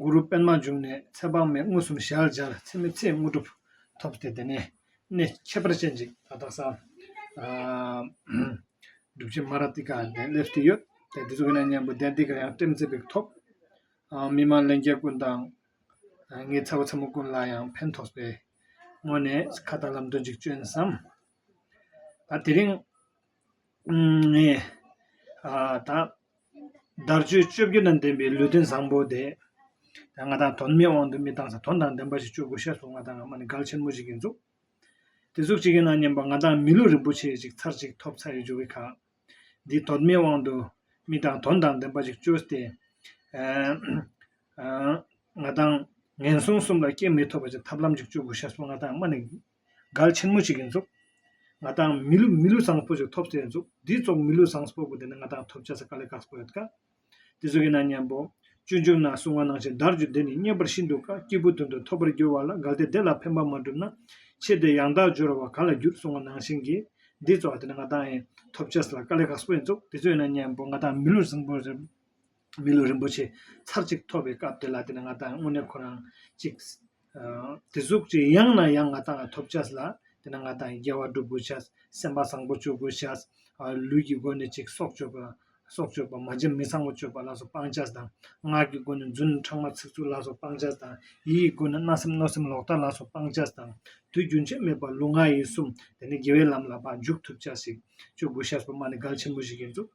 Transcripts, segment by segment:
གུ་རུ་པདྨ་འབྱུང་གནས་ཚེ་དཔག་མེད་མངོན་སུམ་ཞལ་སྦྱར་ཚེ་མེད་ཚེའི་དངོས་གྲུབ་ཐོབ་སྟེ་དེ་ནས་གནས་ཁྱད་པར་ཅན་ཅིག་ཏག་ཏག་སར་སྒྲུབ་བྱེད་མ་ར་ཏི་ཀ་ནས་སླེབས་ཏེ་ཡོད། དེ་ཚོ་གནས་གཉན་པོ་གདན་འདི་གར་ཡང་བཀྲེན་མཛེས་པའི་ཐོབ། མི་མང་ལན་བརྒྱད་ཀུན་དང། ངེད་ཚ་བོ་ཚ་མོ་ཀུན་ལ་ཡང་ཕན་ཐོགས་པའི་སྔོན་ནས་ཁ་བརྡ་ལམ་སྟོན་ཅིག་བཅོན་བསམ། ད་དེ་རིང། བརྡར་གཅོད་བཅོ་བརྒྱད་དང་ལྡན་པའི་ལུས་རྟེན་བཟང་པོ་དེ། ང་དང་དོན་མེད་དབང་དུ་མི་བཏང་ཟེར་དོན་དང་ལྡན་པ་ཞིག་སྤྱོད་དགོས་ཤ་ཟུག་ང་དང་ང་མ་ནི་འགལ་ཆེན་མོ་ཞིག་ཡིན་འདུག་དེ་གཟུགས་གཅིག་ཡིན་ན་སྙམ་པ་ང་དང་མི་ལུས་རིན་པོ་ཆེ་ཞིག་ཚར་གཅིག་ཐོབ་ཚར་ཡོད་ཅེས་བའི་ཁར། འདིས་དོན་མེད་དབང་དུ་མི་བཏང་དོན་དང་ལྡན་པ་ཞིག་སྤྱོད་དེ། ང་དང་ངན་སོང་གསུམ་ལ་སྐྱེ་མེད་ཐོབ་པ་ཞིག་ཐབས་ལམ་ཅིག་སྤྱོད་དགོས་ཤ་ཟུག་ང་དང་ང་མ་ནི་གལ་ཆེན་མོ་ཞིག་ཡིན་ཚོགས་ང་དང་མི་ལུས་མི་ལུས་བཟང་པོ་ཞིག་ཐོབ་ས་ཡིན་ཚོགས་འདིའི་ཚོགས་མི་ལུས་བཟང་པོ་དེ་ནི་ང་དང་ཐོབ་བྱ་ས་དཀའ་ལས་དཀའ་ས་པོ་ཡོད་དཀའ་དེ་ཚོ་ཡིན་ན་སྙམ་པོ། སྤྱོད་འཇུག་ན་གསུང་བ་ནང་བཞིན་བརྡར་རྒྱུ་འདི་ནི་རྙེད་པར་ཤིན་ཏུ་དཀའ་སྐྱེས་བུ་དོན་དུ་ཐོབ་པར་འགྱུར་བ་ལ་གལ་ཏེ་དེ་ལ་ཕན་པ་མ་བསྒྲུབས་ན་ཆེད་དེ་ཡང་དག་སྦྱོར་བ་ག་ལ་འགྱུར་གསུང་བ་ནང་བཞིན་གྱི་འདིའི་ཚོགས་དེ་ནི་ང་དང་ཐོབ་བྱ་ས་དཀའ་ལས་དཀའ་ས་པོ་ཡིན་ཚོགས་དེ་ཚོ་ཡིན་ན་སྙམ་པོ་ང་དང་མི་ལུས་བཟང་པོ་ཞིག། མི་ལུས་རིན་པོ་ཆེ་ཚར་གཅིག་ཐོབ་པའི་སྐབས་དེ་ལ་དེ་ནི་ང་དང་དངོས་གནས་ཁོ་རང་གཅིག། དེ་གཟུགས་ཅི་ཡང་ན་ཡང་ང་དང་ཐོབ་བྱ་ལ། དེ་ནི་ང་དང་རྒྱལ་བ་སྒྲུབ་དགོས་བྱ། སེམས་པ་བཟང་པོ་སྤྱོད་དགོས་བྱ། ལུས་ཀྱི་སྒོ་ནས་གཅིག་སྲོག་གཅོད་པ། སྲོག་གཅོད་པ་མ་འཇིམ་མི་བཟང་བོ་གཅོད་པ་ལ་སོགས་སྤང་བྱ་དང། ངག་གི་སྒོ་ནས་རྫུན་ཕྲང་མ་ཚིག་རྩུབ་ལ་སོགས་སྤང་བྱ་དང། ཡིད་ཀྱི་སྒོ་ནས་རྣ་སེམས་གནོད་སེམས་ལོག་ལྟ་ལ་སོགས་སྤང་བྱ་དང། དུས་རྒྱུན་ཆད་མེད་པར་ལུས་ངག་ཡིད་གསུམ་དེ་ནི་དགེ་བའི་ལམ་ལ་འཇུག་ཐུབ་བྱ་ཞིག་སྤྱོད་དགོས་བྱ་སོགས་སྨྲ་ནི་གལ་ཆེན་པོ་ཞིག་ཡིན་འདུག།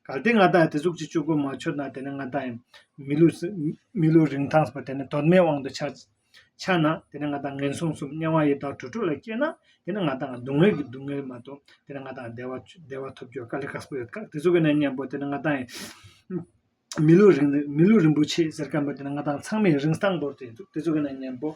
གལ་ཏེ་ང་དག་དེ་གཟུགས་ཀྱི་སྤྱོད་སྒོ་མ་འཆོལ་ན་དེ་ནི་ང་དག་ཡང་མི་ལུས་རིན་ཐང་སྲིད་པ་དེ་ནི་དོན་མེད་དབང་དུ་འཆའ་ན་དེ་ནི་ང་དག་ངན་སོང་གསུམ་དམྱལ་བ་ཡི་དྭགས་དྲུག་དྲུག་ལ་སྐྱེས་ན་དེ་ནི་ང་དག་སྡུག་བསྔལ་གྱི་སྡུག་བསྔལ་མ་གཏོགས་དེ་ནི་ང་དག་བདེ་བ་ཐོབ་རྒྱུར་དཀའ་ལས་ཁག་པོ་ཡོད་དེ་གཟུགས་ཀྱི་གནས་མཉམ་པོ་དེ་ནི་ང་དག་ཡིན་མི་ལུས་རིན་པོ་ཆེ་ཟེར་མཁན་པོ་དེ་ནི་ང་དག་ཚང་མས་རིན་ཐང་བོར་ཏེ་འདུག་དེ་གཟུགས་ཀྱི་གནས་མཉམ་པོ་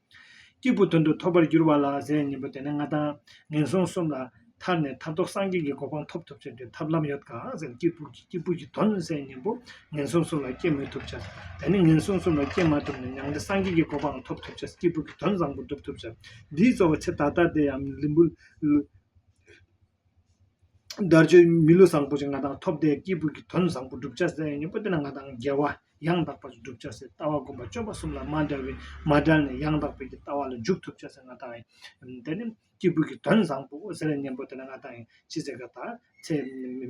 སྐྱེས་བུ་དོན་དུ་ཐོབ་པར་འགྱུར་བ་ལ་ཟས་གཉིས་པོ་དེ་ནི་ང་དང། ངན་སོང་གསུམ་ལ། ཐར་ནས་ཐར་ཐོག་སངས་རྒྱས་ཀྱི་གོ་འཕང་ཐོབ་ཐུབ་བྱ་རྒྱུའི་ཐབས་ལམ་ཡོད་དཀའ་ཟེར་སྐྱེས་བུ་ཀྱི་སྐྱེས་བུ་ཀྱི་དོན་ཟས་གཉིས་པོ་ངན་སོང་གསུམ་ལ་སྐྱེ་མི་ཐུབ་བྱ། ད་ནི་ངན་སོང་གསུམ་ལ་སྐྱེ་མ་ཐུབ་ནས་མྱང་འདས་སངས་རྒྱས་ཀྱི་གོ་འཕང་ཐོབ་ཐུབ་བྱ་སྐྱེས་བུ་ཀྱི་དོན་བཟང་པོ་སྒྲུབ་ཐུབ་བྱ། འདིའི་གཙོ་བོ་ཆེ་ད་ལྟ་དེ་ཡང་ལུས་པོ། བརྡར་གཅོད་མི་བསླུ་བཟང་པོ་ཆེ་ང་དང་ཐོབ་དད་སྐྱེས་བུ་གྱི་དོན་བཟང་པོ་བསྒྲུབ་བྱ་ཟེར་ཡང་སྙིང་པོ་དེ་ན་ང་དང་རྒྱལ་བ་ཡང་དག་པར་བསྒྲུབ་བྱ་ཟེར་ལྟ་བ་སྒོམ་པ་སྤྱོད་པ་གསུམ་ལ་མ་འདྲ་བས་མ་བསྒྲལ་ནས་ཡང་དག་པའི་ལྟ་བ་ལ་འཇུག་ཐུབ་བྱ་ཟེར་ང་དང་དད་ནི་སྐྱེས་བུ་གྱི་དོན་བཟང་པོ་ཟེར་སྙིང་པོ་དེ་ན་ང་དང་ཅི་ཟེར་ག་ད་ཚེ་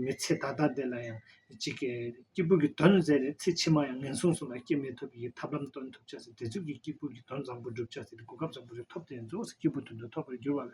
མི་ཚེ་ད་ལྟ་འདི་ལ་ཡང་ཅིག་སྐྱེས་བུ་གྱི་དོན་ཟེར་ནས་ཚེ་ཕྱི་མ་ཡང་ངན་སོང་གསུམ་ལ་སྐྱེ་མེད་ཐོབ་པའི་ཡི་ཐབས་ལམ་སྟོན་ཐུབ་བྱ་ཟེར་བདེ་ཚུལ་གྱི་སྐྱེས་བུ་གྱི་དོན་བཟང་པོ་བསྒྲུབ་བྱ་ཟེར་ཏེ་གོ་སྐབས་བཟང་པོ་ཞིག་ཐོབ་སྟེ་རྫོགས་སུ་སྐྱེས་བུ་དོན་དུ་ཐོབ་པར་འགྱུར་བ་ལས།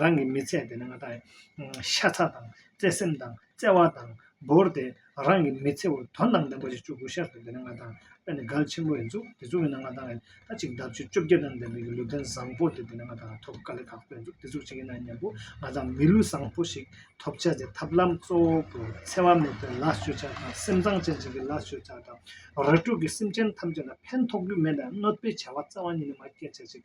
རང་གི་མི་ཚེ་དེ་ནི་ང་དང་ཤ་ཚ་དང་བརྩེ་སེམས་དང་བརྩེ་བ་དང་བོར་ཏེ་རང་གི་མི་ཚེ་བོར་དོ་སྣང་ལྡན་པ་ཞིག་བཅུག་དགོས་ཤར་ཏུ་དེ་ནི་ང་དང་ཨ་ནི་གལ་ཆེན་པོ་ཡིན་འདུག་དེ་ཚོའི་འོད་སྣང་ང་དང་ཨ་གཅིག་ལྡབ་ཅུ་བཅོ་བརྒྱད་དང་ལྡན་པའི་ལུས་རྟེན་བཟང་པོ་དེ་དེ་ནི་ང་དང་ཨ་ཐོབ་དཀའ་ལས་ཁག་པོ་ཡིན་འདུག་དེ་ཚོ་གཅིག་ཡིན་ན་སྙམ་པོ་ང་དང་མི་ལུས་བཟང་པོ་ཞིག་ཐོབ་བྱ་དེ་ཐབས་ལམ་གཙོ་བོ་བོར་འཚེ་བ་མེད་པའི་ལ་སྤྱོད་བྱ་དང་སེམས་གཙང་ཅན་ཞིག་གི་ལ་སྤྱོད་བྱ་དང་ར་སྤྲུག་གི་སེམས་ཅན་ཐམས་ཅད་ལ་ཕན་ཐོགས་རྒྱུ་མེད་པའི་གནོད་པའི་བྱ་བ་རྩ་བ་ཉིད་ནས་མ་བསྐྱེད་བྱ་ཞིག་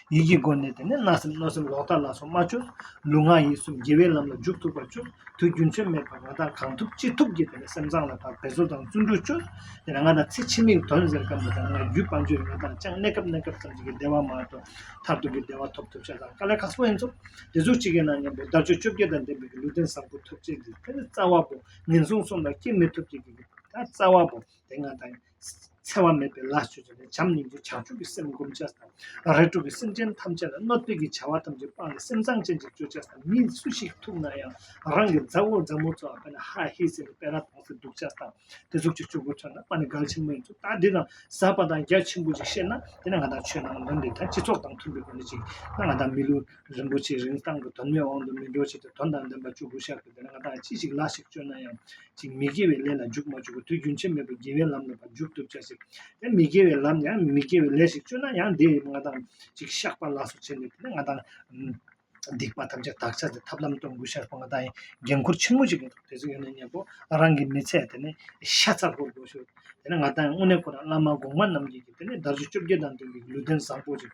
ཡིད་ཀྱི་སྒོ་ནས་དེ་ནས་རྣ་སེམས་གནོད་སེམས་ལོག་ལྟ་ལ་སོགས་མ་བཅོལ། ལུས་ངག་ཡིད་གསུམ་རྒྱལ་བའི་ལམ་ལ་འཇུག་ཐུབ་པར་བཅོལ། དུས་རྒྱུན་ཚོད་མེད་པར་ང་དང་གང་ཐུབ་ཅི་ཐུབ་ཀྱིས་དེ་ནས་སེམས་བཟང་ལ་དག་པའི་བཟོ་དང་བརྩོན་འགྲུས་བཅོལ། དེ་ནས་ང་དང་ཚེ་ཕྱི་མིག་དོན་ཟེར་སྐབས་འདི་ལྟར་ང་རྒྱུད་དཔའ་མཆོད་ཡོན་དང་བཅངས་གནས་སྐབས་གནས་སྐབས་ཙམ་ཞིག་གི་བདེ་བ་མ་ཐོབ་མཐར་ཐུག་གི་བདེ་བ་ཐོབ་ཐུབ་བྱ་དང་དཀའ་ལས་ཁག་པོ་ཡིན་ཚོ། དེ་གཟུགས་གཅིག་གི་ནང་སྙམ་པའི་བརྡར་གཅོད་བཅོ་བརྒྱད་དང་ལྡན་པའི་གི་ལུས་རྟེན་བཟང་པོ་ཐོབ་བྱེད་ཀྱི་དེ་ནི་རྩ་བ་པོ་ངན་སོང་གསུམ་ལ་སྐྱེ་མི་ཐུབ་བྱེད་ཀྱི་གི་ད་རྩ་བ་པོ་དེ་ང་དང། འཚེ་བ་མེད་པའི་ལ་སྤྱོད་བྱ་སྟེ་བྱམས་སྙིང་རྗེ་བྱང་ཆུབ་ཀྱི་སེམས་བསྒོམ་བྱ་ཞེས་དང། རེག་དྲུག་གིས་སེམས་ཅན་ཐམས་ཅད་ལ་གནོད་བསྟོད་ཀྱི་བྱ་བ་ཐམས་ཅད་སྤངས་ནས་སེམས་གཙང་ཅན་ཅིག་སྤྱོད་བྱ་ཞེས་དང་མི་སུ་ཞིག་ཐུག་ན་ཡང་རང་གི་མཛའ་བོ་མཛའ་མོ་ཚོ་དཔེར་ན་ཧཱ་ཧི་ཟེར་ནས་དཔེར་ན་དྭངས་སེ་འདུག་བྱ་ཞེས་དང་དེ་གཟུགས་ཀྱི་སྤྱོད་པོ་ཚོས་ན་པ་ནི་གལ་ཆེན་པོ་ཡིན་ཚུལ་ལྟར་འདི་དང་ཟབ་པ་དང་རྒྱ་ཆེན་པོ་ཅིག་བཤད་ན་དེ་ནི་ང་དང་ཆོས་རྣམས་ལ་འདི་དང་སྤྱི་ཚོགས་དང་མཐུན་པའི་སྒོ་ནས་ཅིག་ན་ང་དང་མི་ལུས་རིན་པོ་ཆེའི་རིན་བཏང་གི་དོན་མེད་དབང་དུ་མི་འགྲོ་ཆེད་དུ་དོན་དང་ལྡན་པ་བཅུ་དགུ་བཤགས་ཀྱིས་དེ་ལ་ང་དག་ཅི་ཞིག་ལ་ཞིག་སྤྱོད་ན་ཡང་ཅིག་མི་དགེ་བའི་ལས་ལ་འཇུག་མ་འཇུག་གི་དུས་རྒྱུན་ཆད་མེད་པར་དགེ་བའི་ལམ་ལ་བ་འཇུག་ཐུབ་བྱ་ཞིག་དེ་མི་དགེ་བའི་ལམ་ཡང་མི་དགེ་བའི་ལས་ཞིག་སྤྱོད་ན་ཡང་དེས་ང་དག་ཅིག་བཤགས་པ་ལ་སོགས་བྱས་ནས་དེ་ལས་ང་དང་སྡིག་པ་ཐམས་ཅད་དག་བྱ་སྟེ་ཐབས་ལམ་སྟོན་དགོས་ཤར་བ་ང་དག་ཡང་འགན་ཁུར་ཆེན་མོ་ཞིག་ཡོད་དོ་དེ་ཚོ་ཡོད་ན་གཉེན་པོ་རང་གིས་མི་ཚད་དེ་ནས་ཤ་ཚ་བོར་དགོས་ཤོག་དེ་ནས་ང་དག་ཡང་དངོས་གནས་ཁོ་རང་བླ་མ་གོང་མ་རྣམས་ཀྱིས་ཀྱིས་དེ་ནས་དར་ཅོ་བཅོ་བརྒྱད་དང་ལྡན་པའི་ལུས་རྟེན་བཟང་པོ་ཞིག